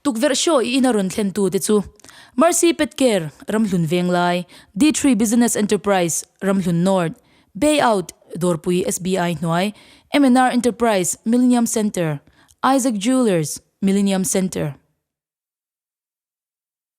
Tukverh show i ina rawn thlentu te chu Mercy Pet Care, Ramhlun Venglai, D-Tree Business Enterprise, Ramhlun North, Bay Out, Dawrpui SBI hnuai, MNR Enterprise, Millenium Centre, Isaac Jewellers, Millenium Centre,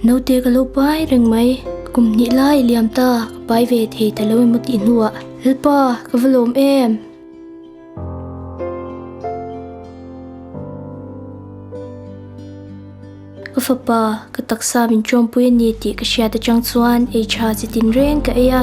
Naute ka lo pai reng mai kum nih lai liam ta pai ve thei ta lo emaw tih hnuah Lalpa ka va lawm em. Ka fapa ka taksa min ṭuanpui a ni tih ka hriat aṭang chuan ei ṭha chi tin reng ka ei a.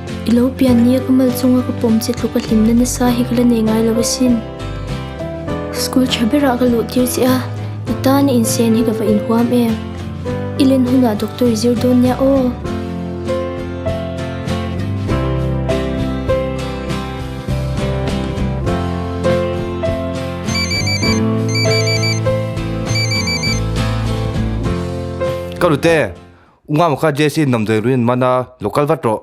I lo pian nia ka mal chunga ka pawm che tluka hlim na nasa hi ka la nei ngai lo asin. School tha berah ka luh tir che a, i tana insen hi ka va inhuam em. I len hunah doctor i zir dawn nia aw. Ka rute. Unga maka JC in namdei rui an man a, lo kal vat rawh.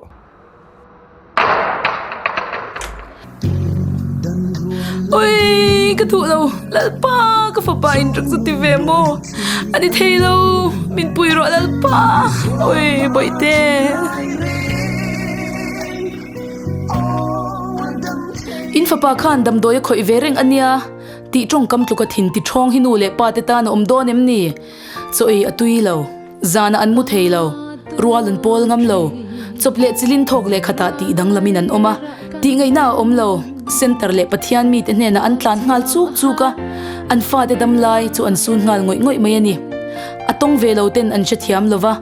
Ui, ka duh lo, Lalpa, ka fapa in rak zu ti ve maw? A ni thei lo, min pui rawh Lalpa, ui, Bawihte. In fapa khan damdawi a khawih ve reng a nia, tih tawngkam tluk a thin, tiṭhawng hi nu leh pate tan a awm dawn em ni? Chaw ei a tui lo, zana an mu thei lo, rual an pawl ngam lo, chawp leh chilin thawk leh khatah tih danglamin an awm a, tihngeihna a awm lo, center leh Pathian mite hnenah an tlan nghal chuk chuk a, an fate dam lai chu an sun nghal ngawih ngawih mai a ni. A tawng ve lo ten an hrethiam lo va.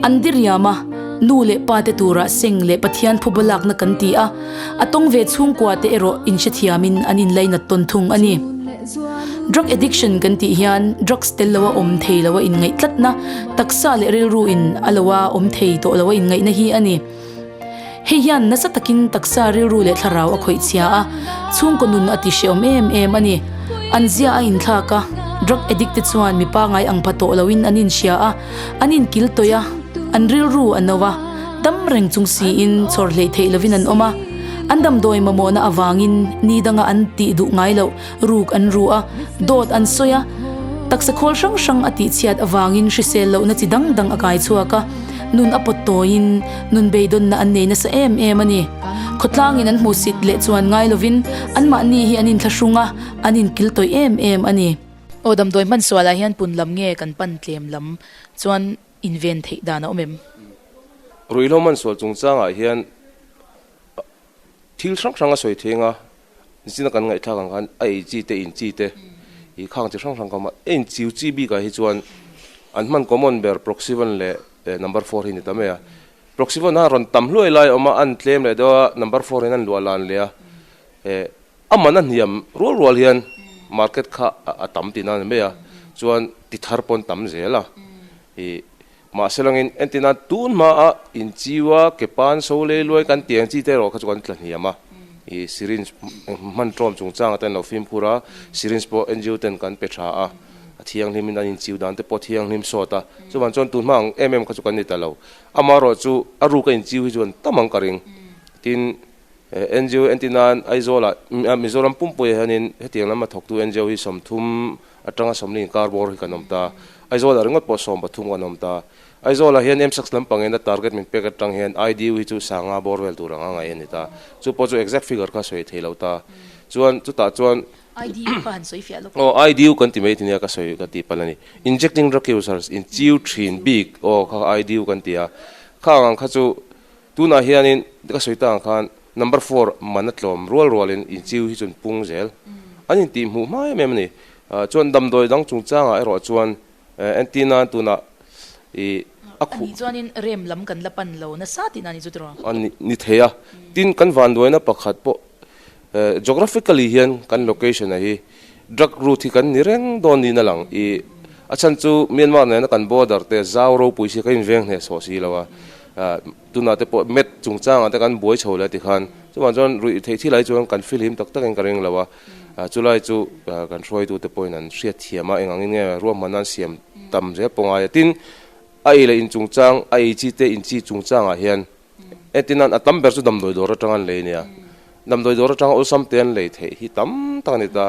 An diriam a, nu leh pa te turah seng leh Pathian phuba lakna kan ti a, a tawng ve chhungkua te erawh in hrethiam in an inlei nat tawn thung a ni. Drug addiction kan tih hian drugs tel lo a awm thei lo a in ngaih tlatna, taksa leh rilru in a lo a awm thei tawh lo a in ngaihna hi a ni. Hei hian nasa takin taksa rilru leh thlarau a khawih chhia a, chhungkaw nun a ti hrehawm em em a ni. An zia a inthlak a, drug addict te chuan mi pangngai ang pha tawh loin an inhria a, an inkil tawih a, an rilru a no a, dam reng chung siin chhawrhleih theih lovin an awm a, an damdawi mamawhna avangin ni danga an tih duh ngai loh ruk an ruh a, dawt an sawi a, taksa khawl hrang hrang a tihchhiat avangin hrisel lohna chi dang dang a kai chhuak a, nun a pawt tawiin nun beidawnna an nei nasa em em a ni. Khawtlangin an hmuh sit leh chuan ngai lovin anmahni hi an inthlahrung a, an inkil tawih em em a ni. Aw, damdawi hmansualah hian pun lam nge kan pan tlem lam chuan inven theih dan a awm em? Ruihhlo hmansual chungchangah hian Thil hrang hrang a sawi theng a, zin a kan ngaihthlak ang khan a ei chi te in chi te i khang chi hrang hrang ka awm a. Ein chiu chi bik ah hi chuan an hman common ber proxy vawn leh number four hi ni ta mai a. Proxy vawn ah rawn tam hluai lai a awm a, an tlem leh deuh a, number four hian an luah lan leh a. Eh a man a hniam rual rual hian market kha a tam tihna a ni mai a, chuan ti thar pawh an tam zel a. I. Mahse langin entina tun hmaah inchiu a ke pan so lei luai kan ti ang chi te erawh kha chu kan tla hniam a, i syringe hman tawm chung changa te an lo fimkhur a, syringe pawh NGO ten kan pe tha a, a thianghlimin an inchiu dan te pawh thianghlim sawt a, chuvan chuan tun hma ang em em kha chu kan ni ta lo, amaherawh chu a ruka inchiu hi chuan tam ang ka ring, tin NGO entinain Aizawlah Mizoram pumpuia hianin hetiang lama thawktu NGO hi sawmthum Atanga sawmliin kar bawr hi kan awm ta. Aizawla ringawt pawh sawm pathum kan awm ta. Aizawla hian msax lampangin a target min pek atang hian IDU hi chu sanga bawr vel tur anga ngaih a ni ta. Chu pawh chu exact figure kha sawi thei lo ta. Chuan chutah chuan. IDU kha han sawi fiah lawk. Aw IDU kan ti mai tinia ka sawi ka tih pan a ni. Injecting drug users in chiu thin bik aw kha IDU kan ti a. Kha ang ang kha chu. Tunah hianin ka sawi ta ang khan number four man a tlawm rual rualin inchiu hi chun pung zel an intih hmuh hma em em a ni. Chuan damdawi dang chungchangah erawh chuan Anti nan tunah i a khuh. Ani chuanin rem lam kan la pan lo nasa tihna ni chu tiraw? A ni thei a, tin kan vanduaina pakhat pawh Geographically hian kan location-a hi drug route hi kan ni reng dawn niin a lang i, a chhan chu Myanmar nena kan border te zau ropui si ka inveng hneh chhuah si lo a, tunah te pawh map chungchangah te kan buai chho leh ti khan. Chuvang chuan ruih theih thil ai chuan kan feel him tak takin ka ring lo a, chulai chu kan hruaitute pawhin an hriat thiam a, eng angin nge ruah hmanna an siam tam zel pawngai a, tin a ei leh in chungchang, a ei chi te in chi chungchangah hian e tinan a tam ber chu damdawi dawr atanga an lei nia damdawi dawr atanga awlsam te an lei theih hi tam tak a ni ta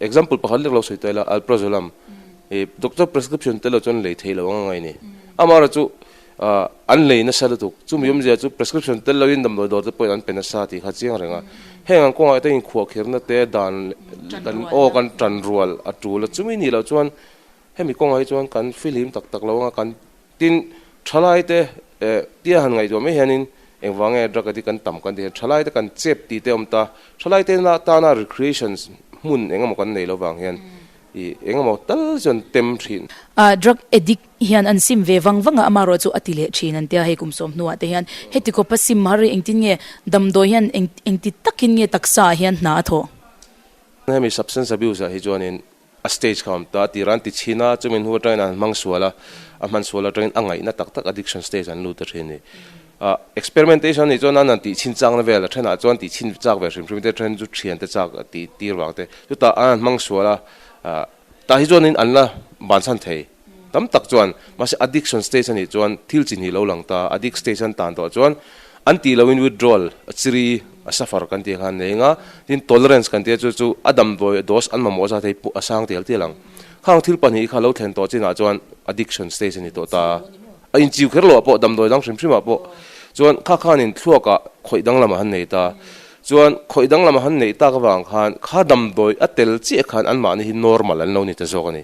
example pakhat lek lo sawi ta ila alprazolam e doctor prescription te lo chu an lei theih lo anga ngai ni amara chu an lei na sa lutuk chu mi awmzia chu prescription tel lo in damdawi dawr te pawhin an pe na sa ti kha chiang renga heng ang kawngah te in khuah khirna te dan kan aw kan tan rual a tul a chumi ni lo chuan hemi kawngah hi chuan kan filim tak tak lo anga kan Tin, thalaite eh tia han ngaihtuah mai hianin engvang nge drug addict an tam kan ti hian thalaite kan chep ti te awm ta. Thalaite na tana recreations hmun engemaw kan nei lovang hian i engemaw tal chuan tem thin. Ah drug addict hian an sim ve vang vang a, amarawh chu a ti leh thin an tia hei kum sawm hnuah te hian heti khawpa sim har hi engtin nge damdawi hian eng engti takin nge taksa ah hian hna a thawh. Hemi substance abuse ah hi chuanin A stage kha awm ta, tirah an ti chhin a, chumi hnu atangin an hmang sual a, a hman sual atangin a ngaihna tak tak addiction stage an lut a thin ni. A experimentation anih chuan an han tih chhin chakna vel a thenah chuan tih chhin chak ve hrim hrim te then chu thian te chak tih tir vang te chutah an han hmang sual a, a tah hi chuan in an la banchhan thei. tam tak chuan mahse addiction stage anih chuan thil chi hnih lo lang ta a addict stage an tan tawh chuan an tih loin withdrawal a chiri a suffer kan tih khan nei anga tin tolerance kan tia chu chu a dam dawi a dose an mamawh zat hei a sang tel tel ang khang thil pahnih kha lo thlen tawh chin ah chuan addiction stage ani tawh ta a in chiu kher lo ah pawh dam dawi dang hrim hrim ah pawh chuan kha khan in thluak ah khawih dang lam a han nei ta chuan khawih dang lam a han nei tak vang khan kha dam dawi a tel chiah khan an mahni hi normal an lo ni ta zawk ani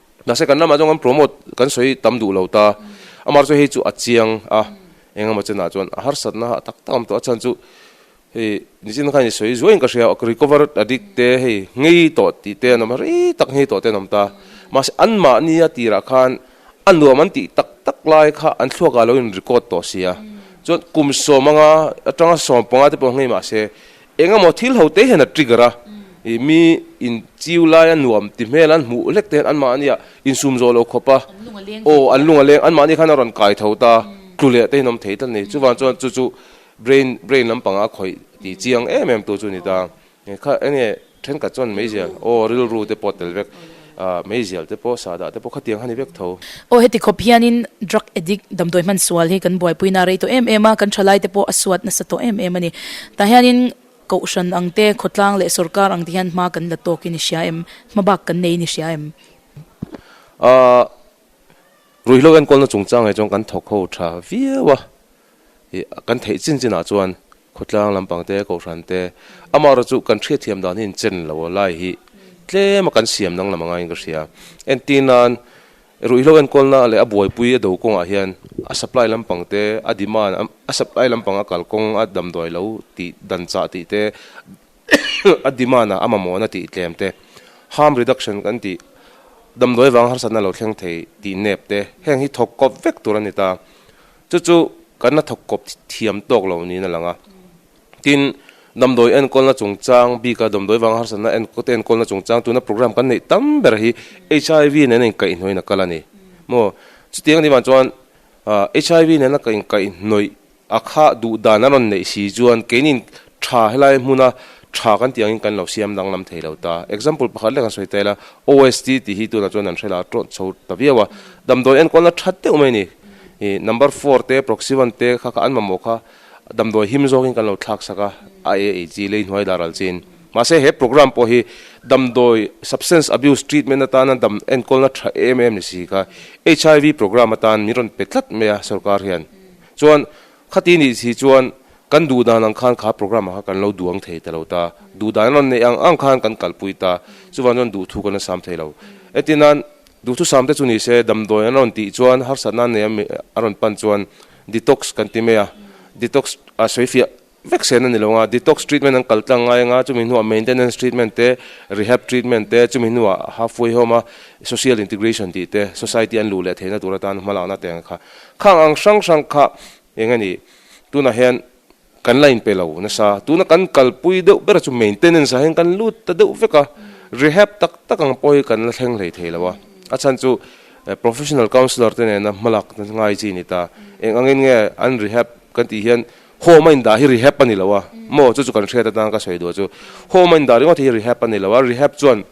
Mahse kan lamah chuan kan promote kan sawi tam duh lo ta. Amar chu hei chu a chiang a, eng emaw chenah chuan a harsatna a tak tak awm tawh a chhan chu hei nichin kha ni sawi zuaiin ka hria a recovered addict te hei ngei tawh tih te an awm a ri tak ngei tawh te an awm ta. Mahse anmah nia tirah khan a nuam an tih tak tak lai kha an thluakah lo in record tawh si a. Chuan kum sawm anga atanga sawm panga te pawh ngei mahse Engemaw thil ho te hian a trigger a, ih mi in chiu lai a nuam ti hmel an hmuh hlek te hian anmahnia insum zawh lo khawp a, aw an lung a leng anmahni khan a rawn kai tho ta, tlu leh te in awm thei ta ni, chuvang chuan chu chu brain brain lampang a khawih tih chiang em em tur chu a ni ta, kha enge thenkhat chuan meizial aw rilru te pawh a tel vek. Ahh, meizial te pawh, sahdah te pawh kha tiang hani vek tho. Aw, heti khawp hianin drug addict damdawi hman sual hi kan buaipuina a rei tawh em em a, kan thalai te pawh a suat nasa tawh em em a ni. Tah hianin Kohhran ang te, khawtlang leh sorkar ang te hian hma kan la tawk i ni hria em? Hma bak kan nei i ni hria em? Ahh, ruihhlo enkawlna chungchang hi chuan kan thawkho tha viau a. hi kan theih chin chin ah chuan khawtlang lampang te kohhran te amah rawh chu kan hriatthiam dan hi inchin lo a lai hi tlem a kan siam danglam anga inka hria entir nan ruihhlo enkawl na leh a buaipui a do kawng ah hian a supply lampang te a demand a supply lampang a kal kawng a damduai lo tih dan chah tih te a demand ah a mamawh na tih tlem te harm reduction kan tih damduai vang harsatna lo thleng thei tih nep te heng hi thawk kawp vek tur ani ta. Chu chu kan la thawk kawp thiam tawk lo niin a lang a. Tin, damdawi enkawlna chungchang bika damdawi vanga harsatna te enkawlna chungchang tuna programme kan neih tam ber hi HIV nena inkaihnawih in a kal a ni maw? Chutiang a nih vang chuan HIV nena ka inkaihhnawih a kha duhdan a rawn neih si chuan keinin Tha, helai hmuna tha kan tih angin kan lo siam danglam thei lo ta. Example pakhat leh kan sawi tel a, OST tih hi tunah chuan an hre la a tawt chho ta viau a. Damdawi enkawlna tha deuh mai ni. Number four te, proxy one te kha kha an mamawh kha damdawi him zawkin kan lo thlaksak a, a e ei chi lei hnuai dar al chiin. Mahse he programme pawh hi damdawi, substance abuse, treatment atana dam enkawlna tha em em ni si kha, HIV programme atan min rawn pe tlat mai a sawrkar hian. Chuan. Khati nih si chuan kan duh dan ang khan kha program ah kha kan lo duh ang thei ta lo ta, duh dan a rawn neih ang ang khan kan kalpui ta, chuvan chuan duhthu kan la sam thei lo. Etinan, duhthu sam te chu ni se, damdawi an rawn tih chuan harsat nan nei ami a rawn pan chuan detox kan ti mai a, detox a sawi fiah vek sen a ni lo nga, detox treatment an kal tlang ngai anga chumi hnuah maintenance treatment te, rehab treatment te, chumi hnuah halfway home a social integration tih te, society an luh leh theihna tur atan hmalakna te ang kha Khang ang hrang hrang kha eng a nih? Tunah hian kan la inpe lo nasa. Tuna kan kalpui deuh bera chu maintenance ah hian kan lut ta deuh vek a, rehab tak tak ang pawh hi kan la thleng hlei thei lo a. A chhan chu professional counsellor te nena hmalak na ngai chi ni ta. Eng angin nge an rehab kan tih hian home a indah hi rehab a ni lo a. Maw? Chu chu kan hriat atan ka sawi duh chu home a indah ringawt hi rehab a ni lo a. Rehab chuan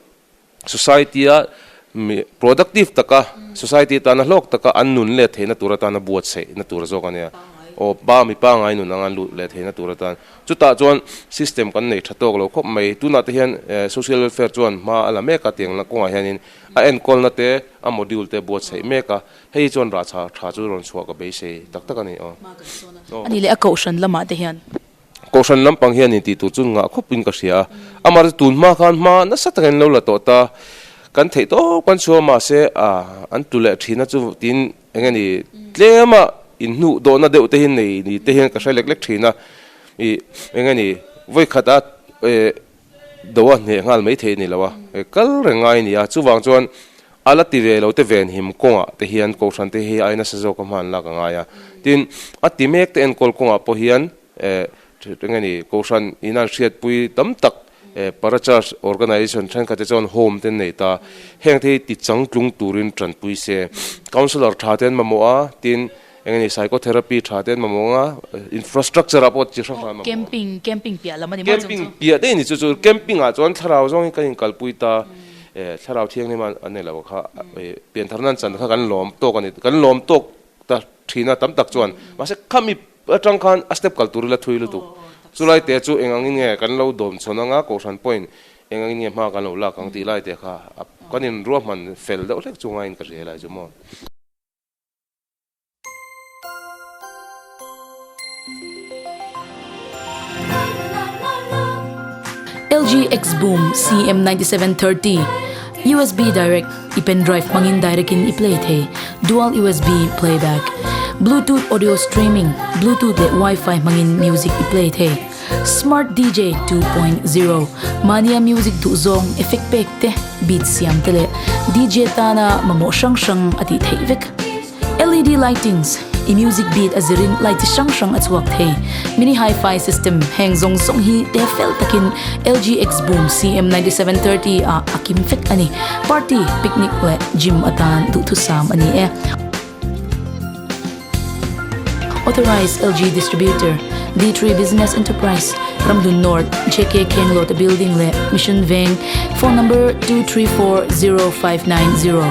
society-a mi productive taka society atana hlawk taka an nun let theihna tur atana buat saihna tur zawk a nia aw pa mi pangai nun anga luh let theihna tur atan chutah chuan system kan nei tha tawk lo khawp mai tunah te hian eh, social welfare chuan hma a la mek a tiangna kawngah hianin a enkawlna te a module te buat saih mek a hei chuan rah tha tha chu rawn chhuah ka beisei tak tak a ni aw aw a nih leh a kohhran lamah te hian. Kohhran lampang hian intih tur chu ngah khawp in ka hria a, amah te tun hma khan hma nasa taka in lo la tawh ta, kan theih tawp kan chhuah mahse an tu leh thina chu tin eng ani tlema in hnuh dawhna deuh te hi nei ni te hian ka hre lek lek thin a, eng ani vawi khata Doh a hneh nghal mai theih ni lo a, he kal reng ngai a ni a. Chuvang chuan a la ti ve lo te ven him kawngah te hian kohhran te hi ai nasa zawk a hman lak a ngai a. Tin, a ti mek te enkawl kawngah pawh hian eng nge ni, kohhran in an hriatpui tam tak parachurch organisation thenkhat te chuan home te an nei ta. Heng te hi tichang tlung turin tanpui se. Councillor tha te an mamawh a, tin, Eng ni psychotherapy tha te an mamawh ang a, infrastructure ah pawh chi hrang hrang an mamawh ang. Camping, camping piah lam a ni maw chung chu? Camping piah daih ni chu chu camping ah chuan thlarau zawngin kan in kalpui ta, eh thlarau thianghlim a a nei lo kha eh pian thar nan chan kha kan lawm tawk a ni, kan lawm tawk ta thin a tam tak chuan mahse khami atang khan a step kal tur ila thui lutuk chulai teh chu eng angin nge kan lo dawm chhawn ang a kohhran pawhin eng angin nge hma kan lo lak ang tih lai teh kha a kan in ruahman fel deuh hlek chunga in ka hria lai chu maw. LG Xboom CM9730 USB direct i pendrive hmangin direct in i play thei dual USB playback bluetooth audio streaming bluetooth leh wifi hmangin music i play thei. Smart DJ two point zero Mania Music duhzawng effect pek te, beat siam te leh DJ tana mamawh hrang hrang a tih theih vek. LED lightings i music beat a zirin light chi hrang hrang a chhuak thei. Mini Hi-Fi system heng zawng zawng hi te fel takin LG X Boom CM ninety seven thirty ah a kim vek a ni. Party, picnic leh gym atan duhthusam a ni e. Authorised LG Distributor, D3 Business Enterprise, Ramhlun North, JK Khenglawta Building leh Mission Veng, Phone Number two three four zero five nine zero.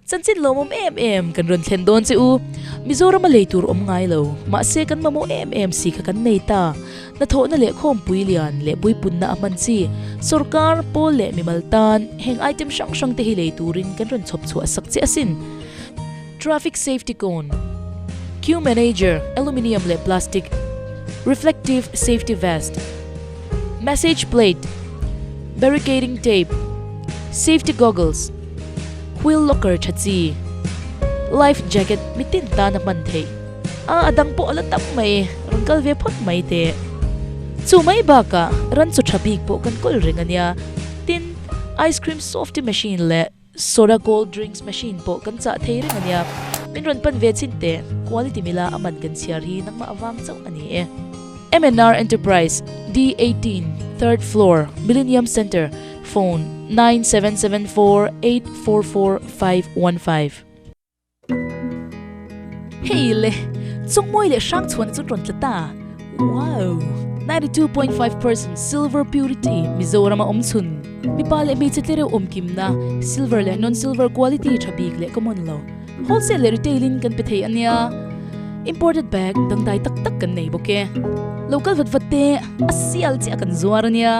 Chanchin lo mawm em em kan rawn thlen dawn che u Mizoram a lei tur awm ngai lo mahse kan mamawh em em si kha kan nei ta. Hnathawhna leh khawmpui lian leh puipunna a hman chi. Sorkar, Pawl leh mimal tan heng item hrang hrang te hi lei turin kan rawn chhawp chhuah sak che asin. Traffic safety cone, Queue manager, aluminium leh plastic, reflective safety vest, message plate, barricading tape, safety goggles, wheel locker tha chi, life jacket mi tin tan a hman theih. A a dang pawh a la tam mai, rawn kal ve phawt mai teh. Chu mai bakah ran chu tha bik pawh kan kawl reng a nia. Tin, ice cream softy machine leh soda cold drinks machine pawh kan chah thei reng a nia. Min rawn pan ve chin teh, quality mila a man kan chhiar hi nangmah a vang chauh a ni e. MNR Enterprise, D eighteen, third floor, Millennium Centre, Phone, nine seven seven four eight four four five one five. Hei le, chawngmawi leh hrang chhuahna chu tawn tla ta. Wow! Ninety two point five percent silver purity Mizoram a awm chhun. Mipa leh hmeichhe tlereuh awmkimna, silver leh non silver quality tha bik leh ka mawn lo. Wholesale leh retail in kan pe thei a nia. Imported bag dangdai tak tak kan nei bawk e. Local vat vat te a sial chiah kan zuar a nia.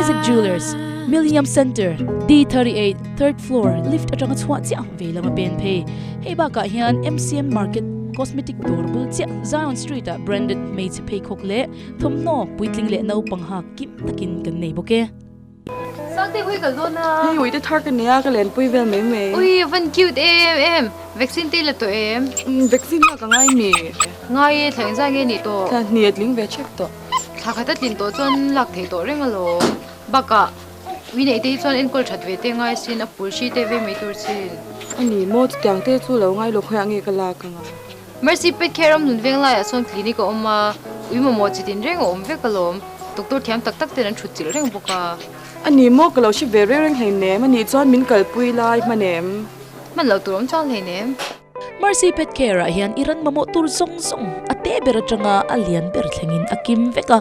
Isaac Jewellers, Millennium Centre, D38, third floor, lift atanga chhuah chiah ang vei lama pen phei. Hei bakah hian MCM Market cosmetic dawr bul chiah Zion Street ah branded hmeichhe. pheikhawk leh thawmhnaw puitling leh naupang ha kim takin kan nei bawk e. Sang te hui ka zawn a. Hei ui te thar ka nei a ka len pui vel mai mai. Ui van cute em em. Vaccine te i la tawh em. Umm vaccine lak a ngai ni. Ngai e thleng zai nge ni tawh. Thleng hnih a tling ve chek tawh. Thla khat a tlin tawh chuan lak thei tawh reng alawm. Bakah ui nei te hi chuan enkawl that ve te ngai sin a pulhri te vei mai tur sin. Ani maw chutiang te chu lo ngai lawk hawih a nge ka lak ang a. Mercy Pet Care awmnun veng laiah sawn clinic a awm a, ui mamawh chit inreng a awm vek alawm. Doctor thiam tak tak ten an thut chilh reng bawk a. A ni maw? Ka lo hre ve reng reng hleinem. A nih chuan min kalpui lai hman em? Hman lo tur awm chang hleinem. Mercy Pet Care ah hian i ran mamawh tur zawng zawng a teh ber atanga a lian ber thlengin a kim vek a.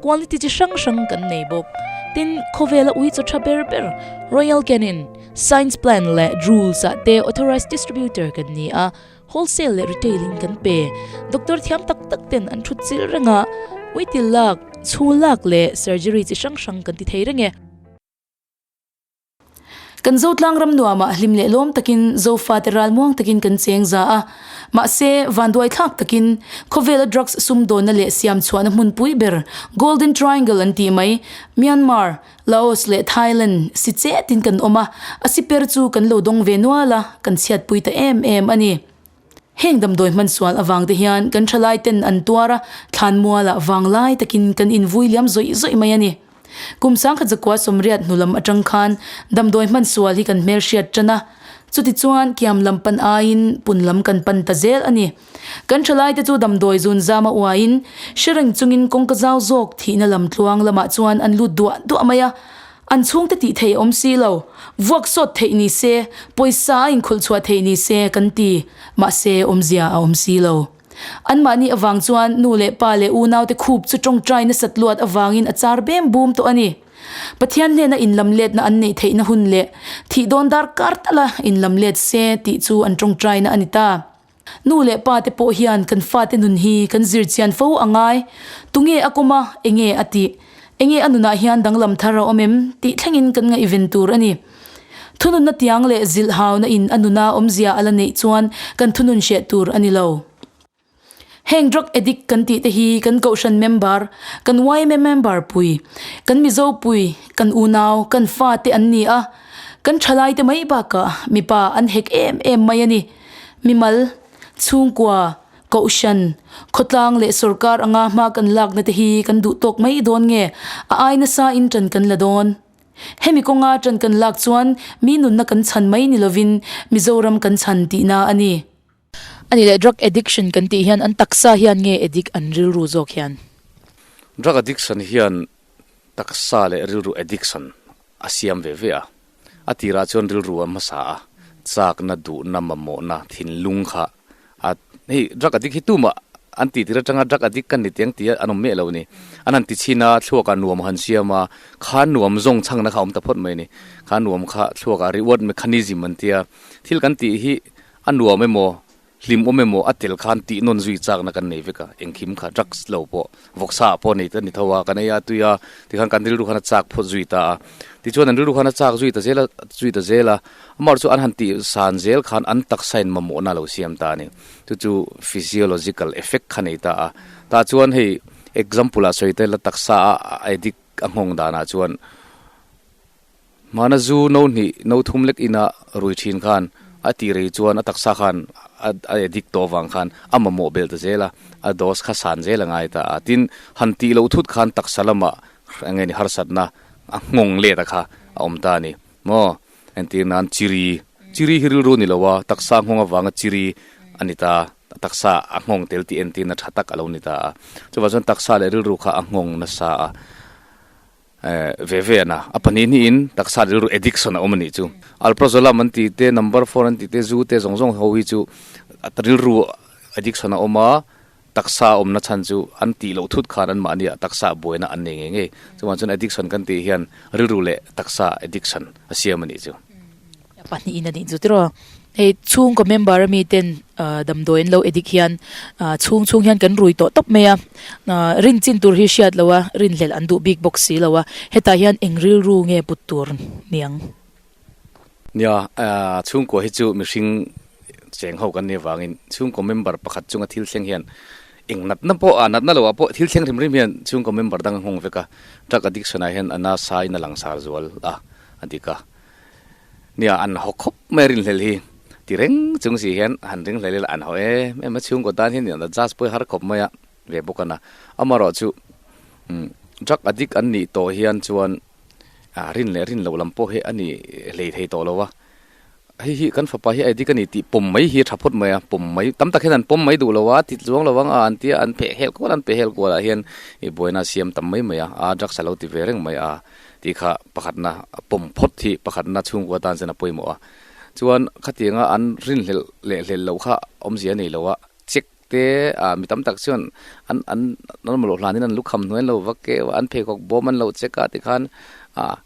Quality chi hrang hrang kan nei bawk. Tin, khawvela ui chaw tha ber ber. Royal Canin, Science Plan leh Drools ah te Authorised Distributor kan ni a. Wholesale leh Retail in kan pe. Doctor thiam tak tak ten an thut chil reng a, uitil lak, chhung lak leh surgery chi hrang hrang kan ti thei reng e. Kan Zotlang ram nuam ah hlim leh lawm takin Zofa te ral muang takin kan cheng za a. Mahse, vanduai thlak takin khawvel a drugs sumdawnna leh siam chhuahna hmunpui ber, Golden Triangle an tih mai, Myanmar, Laos leh Thailand si chet in kan awm a, a si per chu kan lo dawng ve nual a, kan chhiatpui ta em em a ni. Heng damdawi hmansual avang te hian kan thalai ten an tuar a, thlanmual ah vanglai tak in kan in vui liam zawih zawih mai a ni. Kum sangkhat zakua sawmriat hnulam atang khan damdawi hmansual hi kan hmelhriat tan a, chutichuan kiam lam pan aiin punlam kan pan ta zel a ni. Kan thalaite chu damdawi zun zama uaiin hre reng chungin kawngka zau zawk thihna lam tluang lamah chuan an lut duah duah mai a, an chhungte tih theih awm si lo, vuak sawt theih ni se, pawisa a inkhulh chhuah theih ni se kan ti, mahse awmzia a awm si lo. Anmahni avang chuan nu leh pa leh unaute khup chu tawngtai nasat luat avangin a char bem bum tawh a ni. Pathian hnena inlam letna an neih theihna hun leh thih dawn darkar tala inlam let se tih chu an tawngtaina a ni ta. Nu leh pa te pawh hian kan fate nun hi kan zir chian fo a ngai. Tunge a kawm a, enge a ti, enge a nunah hian danglam thar a awm em tih thlengin kan ngaihven tur a ni. Thununna tiang leh zilh hauna in a nuna awmzia a la neih chuan kan thunun hriat tur a ni lo. Heng drug addict kan tih te hi kan Kohhran member, kan yma member pui, kan Mizo pui, kan unau, kan fate an ni a. Kan thalai te mai bakah mipa an hek em em mai a ni. Mimal, chhungkua, kohhran, khawtlang leh sorkar anga hma kan lakna te hi kan duh tawk mai dawn nge? A ai nasa in tan kan la dawn. Hemi kawnga tan kan lak chuan mi nunna kan chhan mai ni lovin Mizoram kan chhan tihna a ni. A ni leh drug addiction kan tih hian an taksa hian nge addict an rilru zawk hian? Drug addiction hian taksa leh rilru addiction A siam ve ve a. A tirah chuan rilru a hmasa a, chakna, duhna, mamawhna, thinlung kha a, hei drug addict hi tumah an tihtir atanga drug addict ka ni teng tih an awm miah lo ni. An han ti chin a, thluakah nuam han siam a, kha nuam zawng changna kha a awm ta phawt mai ni. Kha nuam kha thluakah reward mechanism an tia, thil kan tih hi a nuam emaw, Hlim awm emaw a tel khan tih nawn zui chakna kan nei vek a, engkim kha drugs lo pawh vawksa ah pawh nei ta ni tho a, kan ei a tui a, tikhan kan rilru khan a chak phawt zui ta a, tichuan an rilru khan a chak zui ta zel a, zui ta zel a, amah erawh chu an han tih san zel khan an taksa in mamawhna lo siam ta a ni, chu chu physiological effect kha nei ta a, tah chuan hei example ah sawi ta ila taksa a addict a nghawng danah chuan, Hmana zu no hnih no thum lek ina rui thin khan a tih rei chuan a taksa khan a a dik tawh vang khan a mamawh bel ta zel a, a dose kha san zel a ngai ta a. Tin, han tih loh thut khan taksa lama enge ni harsatna a nghawng let a kha a awm ta a ni maw? Entir nan chiri, chiri hi rilru ni lo a, taksa nghawng avanga chiri a ni ta, taksa a nghawng tel tih entirna tha tak a lo ni ta a. Chuvah chuan taksa leh rilru kha a nghawng nasa a. Eh, ve ve ana. A pahnih hnih in taksa rilru addiction a awm anih chu. Alprazolam an tih te, number four an tih te, zu te zawng zawng ho hi chu rilru addiction a awm a, taksa a awmna chhan chu an tih loh thut khan an mahni ah taksa a buaina an nei ngei ngei. Chuvang chuan addiction kan tih hian rilru leh taksa addiction a siam anih chu. a pahnih in a nih chu tiraw hei chhungkaw member ami ten ah damdawi an lo edik hian ah chhung chhung hian kan rui tawh tawp mai a ah rin chin tur hi hriat loh a rin hlel an duh bik bawk si lo a hetah hian eng rilru nge put tur ni ang nia ah chhungkaw hi chu mihring cheng ho kan nih avangin chhungkaw member pakhat chunga thil thleng hian eng natna pawh ah natna lohah pawh thil thleng rim rim hian chhungkaw member dang a nghawng vek a drug addiction ah hian a nasa in a langsar zual a a dik a. Nia an haw khawp mai a rinhlel hi. Ti reng chung si hian han ringhlel ila an haw em em a, chhungkaw tan hi niawna judge pawhin har khawp mai a ve bawk a na. Amarawh chu drug addict an nih tawh hian chuan rin leh rin loh lam pawh hi a ni hlei thei tawh lo a, hei hi kan fapa hi a addict a ni tih pawm mai hi a tha phawt mai a, pawm mai tam tak hian an pawm mai duh lo a, thit luang lo ang a an tia an pheh hel kual an pe hel kual ah hian i buaina a siam tam mai mai a, a drugs a lo ti ve reng mai a. Tih kha pakhatna a pawm phawt hi pakhatna chhungkua tan chuan a pawimawh a, chuan khatianga an rinhlelh leh hlel loh kha awmzia nei lo a, check te ah mi tam tak chuan an an lalmawlawh hlan in an lukham hnuai an lo vak keu a, an pheikhawk bawm an lo check a ti khan ah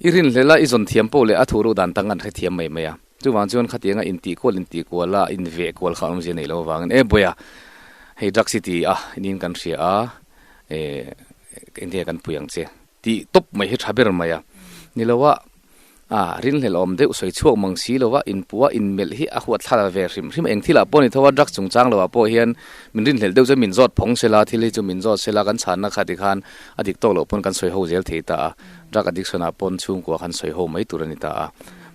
i rinhlel a i zawn thiam pawh leh a thu ruk dan tang kha an hrethiam mai mai a, chuvang chuan khatianga intihkual intihkual a inveh kual kha an awmzia nei lo avangin e bawia hei drugs hi ti ah inin kan hria a, eh. Engnge kan pui ang che? Tih tawp mai hi tha ber mai a. Ni lo a, a rinhlel awm deuh sawi chhuak mang si lo a, inpua, inmelh hi a huathlala ve hrim hrim a. Eng thilah pawh a ni tho a, drug chungchang lo ah pawh hian min rinhlel deuh chuan min zawt phong se la, thil hi chu min zawt se la, kan chhanna khat hi khan a dik tawk loh pawn kan sawi ho zel thei ta a, drug addiction ah pawn chhungkua khan sawi ho mai tur a ni ta a.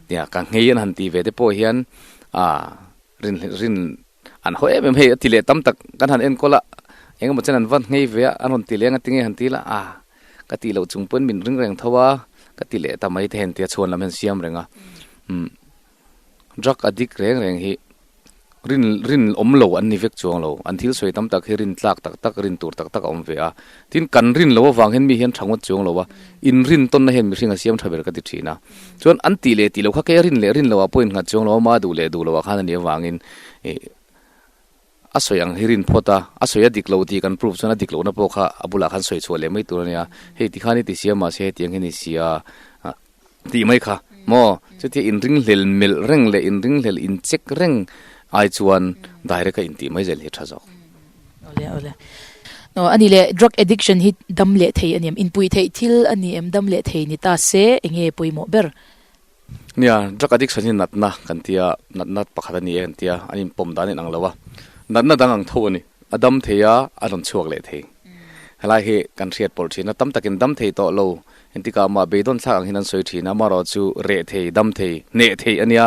Nia, ka ngei a han tih ve te pawh hian a. Rin rin an haw em em hei a ti leh tam tak kan han enkawl a, engemaw chuan an va nghei ve a, an rawn ti leng a tinge han ti la a, ka tih loh chung pawhin min ring reng tho a, ka ti leh ta mai te hen tia chhuan lam hian siam reng a, umm drug addict reng reng hi rin rin awm lo an ni vek chuang lo, an thil sawi tam tak hi rin tlak tak tak rin tur tak tak a awm ve a, Tin, kan rin loh avang hian mi hian tha ngawt chuang lo a, in rin tawnna hian mihring a siam tha ber ka ti thin a. Chuan an tih leh tih lo kha kei a rin leh rin lo ah pawh in nghat chuang lo a, mah duh leh duh lo ah khan a nih avangin ih a sawi ang hi rin phawt a, a sawi a dik lo tih kan proof chuan a dik lohna pawh kha a bulah khan sawi chhuah leh mai tur a nia. Hei ti khan i ti sia mahse hetiang hian i sia a. tih mai kha maw chuti inringhlel melh reng leh inringhlel inchek reng ai chuan direct a intih mai zel hi a tha zawk. Awle awle aw ani le drug addiction hi dam leh thei ani em inpui theih thil ani em dam leh thei ni ta se enge pawimawh ber nia drug addiction hi natna kan tia natna pakhat ani e kan tia an inpawm dan in ang lo a natna dang ang tho ani. A dam thei a, a rawn chhuak leh thei. Helai hi kan hriat pawlh thin a, tam takin dam thei tawh lo, entika amah beidawn thlak ang hian an sawi thin a, amaherawh chu reh thei, dam thei, hneh thei a nia.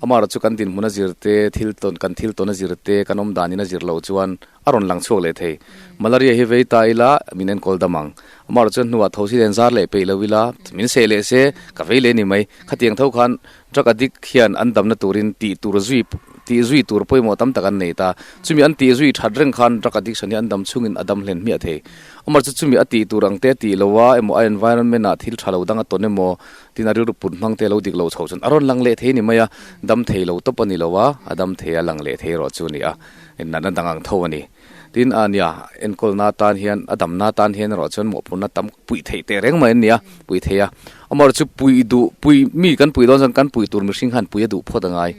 Amaherawh chu kan dinhmun a zir te, thil tawn, kan thil tawn a zir te, kan awmdan in a zir loh chuan a rawn lang chhuak leh thei. Malaria hi vei ta ila min enkawl dam ang. Amaherawh chuan hnuah thosi len zar leh peih lo ila min seh leh se ka vei leh ni mai. Khatiang tho khan. Drug addict hian an damna turin tih tur zui tih zui tur pawimawh tam tak an nei ta. Chumi an tih zui that reng khan drug addiction hi an dam chungin a dam hlen hmiah thei. Awmawr chu chumi a tih tur ang te a tih lo a emaw a environment a thil tha lo dang a tawn emaw tin a rilru put hmang te a lo dik lo chho chuan a rawn lang leh thei ni mai a, dam thei lo tawp a ni lo a, a dam thei a lang leh thei erawh chu a ni a, natna dang ang tho a ni. Tin, a nia, enkawlna atan hian, a damna atan hian erawh chuan mawhphurhna tam puih theih teh reng mai an ni a, puih theih a. Amaherawhchu chu puih duh, puih, mi kan puih dawn chuan kan puih tur mihring khan puia duh phawt a ngai.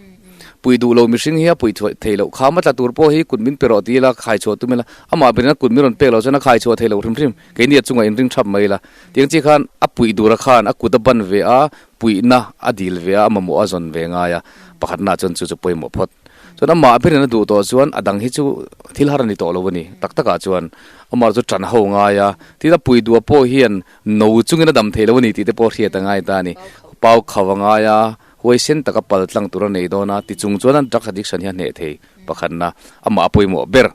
Puih duh lo mihring hi a puih theih loh kha hma tla tur pawh hi kut min pe rawh ti ila khai chhuah tum ila amah berin a kut min rawn pek loh chuan a khai chhuah theih loh hrim hrim, keini a chungah inring thap mai ila. Tiang chi khan a puih dura khan a kuta ban ve a, Puihna a dil ve a, a mamawh a zawn ve ngai a, pakhatnaah chuan chu chu pawimawh phawt. Chuan amah berin a duh tawh chuan a dang hi chu thil har a ni tawh lo a ni. Tak takah chuan amarawh chu ṭan ho ngai a, tin a puidua pawh hian no chungin a dam theih lo a ni tih te pawh a hriat a ngai ta a ni. Pau khauh a ngai a, huaisen taka pal tlang tur a nei dawn a, tichung chuan an drug addiction hi a hneh thei pakhatna amah a pawimawh ber.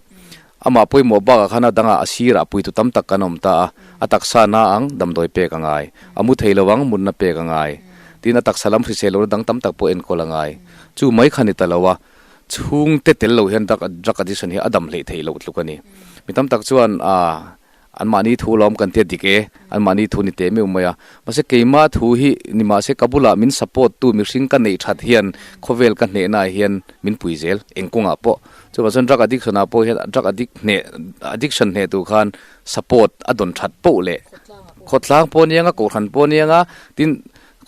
Amah pawimawh bakah khan a dangah a sirah puitu tam tak kan awm ta a, a taksa na ang damdawi pek a ngai, a mu thei lo ang mutna pek a ngai, tin a taksa lam hrisel lohna dang tam tak pawh enkawl a ngai. Chu mai kha ni ta lo a, chhungte tel lo hian drug addiction hi a damhleh theih loh tluk a ni. Mi tam tak chuan a. Anmahni thu lawm kan tia dik e, anmahni thu ni teh meuh mai a. Mahse keimah thu hi ni mah se ka bulah min support tu mihring ka neih that hian khawvel ka hnehnaah hian min pui zel, eng kawngah pawh. Chuvah chuan drug addiction ah pawh hian drug addict hneh, addiction hneh tur khan support a dawn that poh leh khawtlang pawh a ni ang a, kohhran pawh a ni ang a, tin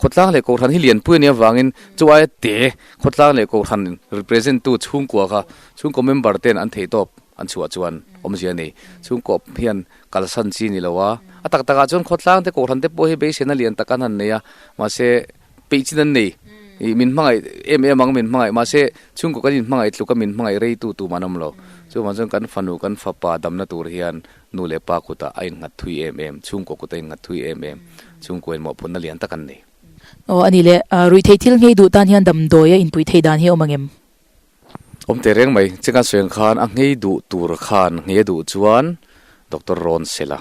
Khawtlang leh Kohhran hi lianpui a nih avangin chu aia te Khawtlang leh Kohhran represent tu chhungkua kha chhungkaw member ten an theihtawp an chhuah chuan awmzia a ni. Chhungkaw hian kalsan chi ni lo a, a tak takah chuan Khawtlang te Kohhran te pawh hi beisena lian tak an han nei a, mahse peihchin an nei. I min hmangaih em em ang min hmangaih mahse chhungkaw kan inhmangaih tluk a min hmangaih rei tu tumah an awm lo. Chuvang chuan kan fanu kan fapa damna tur hian nu leh pa kutah a innghat thui em em, chhungkaw kut a innghat thui em em, chhungkaw in mawhphurhna lian tak an nei. Aw, a ni le, ruih theih thil ngei duh tan hian damdawi a inpuih theih dan hi a awm ang em? Awm teh reng mai. Che kan sawiang khan a nghei duh tur khan nghei a duh chuan doctor rawn sel a,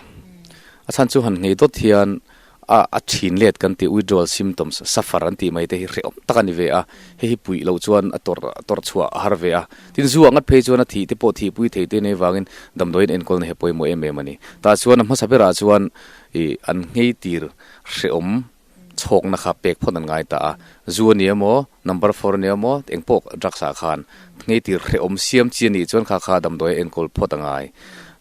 a chhan chu han nghei dawt hian, A a thin let kan tih withdrawal symptoms suffer an tih mai te hi hrehawm tak a ni ve a, hei hi puih loh chuan a tawrh tawrh chhuah a har ve a. Tin, zu ah ngat phei chuan a thih te pawh thihpui thei te nei vangin damdawiin enkawl na he pawimawh em em a ni. Tah chuan a hmasa berah chuan i an ngei tir hrehawm chhawkna kha pek phawt an ngai ta a. Zu a ni a maw, number four a ni a maw, eng pawh drugs ah khan nghei tir hreh awm siam chi a nih chuan kha kha damdawi a enkawl phawt a ngai.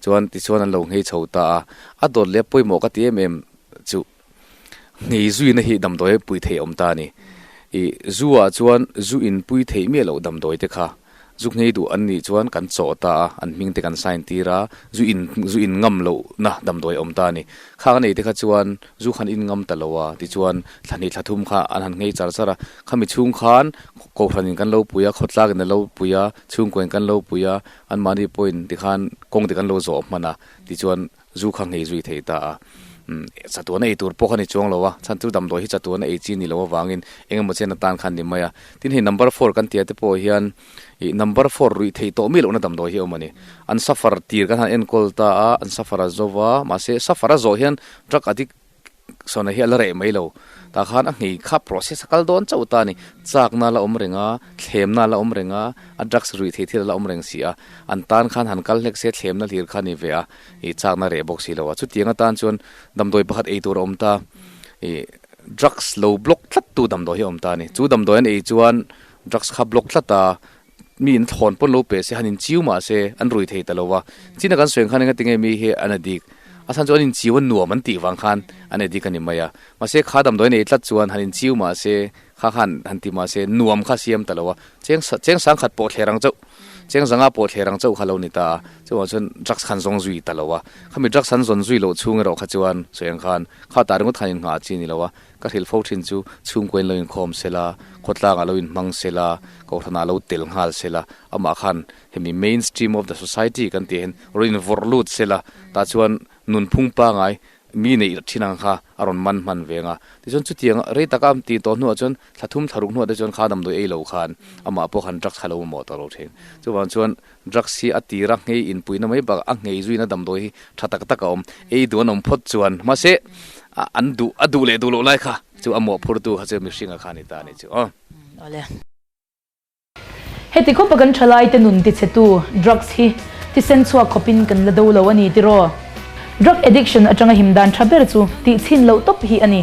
Chuan tichuan an lo nghei chho ta a, a dawt leh a pawimawh ka ti em em chu nghei zuina hi damdawi pui theih awm ta a ni. I Zu ah chuan zu in pui theih miah loh damdawi te kha Zu nghei duh an nih chuan kan chawh ta a, an hming te kan sign tir a, zu in zu in ngam lohna damdawi a awm ta a ni. Khang a nei te kha chuan zu khan in ngam ta lo a, tichuan thla hnih thla thum kha an han nghei char char a. Khami chhung khan kohhran in kan lo pui a, khawtlak in a lo pui a, chhungkaw in kan lo pui a, anmahni pawhin tikhan kawngte kan lo zawh hman a, tichuan Zu kha nghei zui thei ta a, chatuan a ei tur pawh kha ni chuang lo a, chhan chu damdawi hi chatuan a ei chi ni lo avangin eng emaw chen atan kha an ni mai a. Tin, hei number four kan ti a te pawh hian ih number four ruih thei tawh mi lohna damdawi hi a awm a ni. An suffer tir kan han enkawl ta a, an suffer a zova, mahse suffer a zawh hian drug addict Sawnei hi a la reh mai lo. Tah khan a nghei kha process a kal dawn chauh ta a ni. Chakna a la awm reng a, thlemna a la awm reng a, a drugs ruih thei thil a la awm reng si a. An tan khan han kal hlek se thlemna hlir kha a ni ve a, ih chakna a reh bawk si lo a. Chutiang atan chuan damdawi pakhat ei tur a awm ta, ih drugs lo block tlat tu damdawi hi a awm ta a ni. Chu damdawi an ei chuan drugs kha block tlat a. mi in thawn pawn lo pe se han in chiu mah se an rui thei ta lo a chin a kan sawi ang khan enga ti nge mi hi an a dik a chhan chu an in chiu a nuam an tih vang khan an e dik a ni mai a mahse kha dam dawi nei tlat chuan han in chiu mah se kha khan han ti mah se nuam kha siam ta lo a cheng cheng sang khat pawh thlerang chauh cheng zanga pawh thlerang chauh kha lo ni ta a chungah chuan drugs khan zawng zui ta lo a khami drugs han zawn zui loh chhung erawh kha chuan sawi ang khan kha tah ringawt khan in nghah a chi ni lo a Ka hril fo thin chu, chhungkuain lo inkhawm se la, khawtlangah lo inhmang se la, kohhranah lo tel nghal se la, amah khan hemi main stream of the society kan tih hian rawn vawrh lut se la, tah chuan nunphung pangai mi neih rat thin ang kha a rawn man hman ve nga. Tichuan chutiang rei taka ti tawh hnuah chuan thlathum thlaruk hnuah te chuan kha damdawi ei lo khan amah pawh khan drugs kha lo mamawh tawh lo thin. Chuvang chuan Drugs hi a tira ngei inpuina mai bakah a ngei zuina damdawi hi tha tak tak a awm. Ei duh an awm phawt chuan mahse an duh a duh leh duh loh lai kha chu a mawh phurtu kha chu mihringa kha a ni ta a nih chu aw. Awle. Heti khawpa kan thalaite nun tichhetu drugs hi thisen chhuak khawpin kan la do lo a ni tiraw? Drug addiction atanga him dan tha ber chu tihchhin loh tawp hi a ni.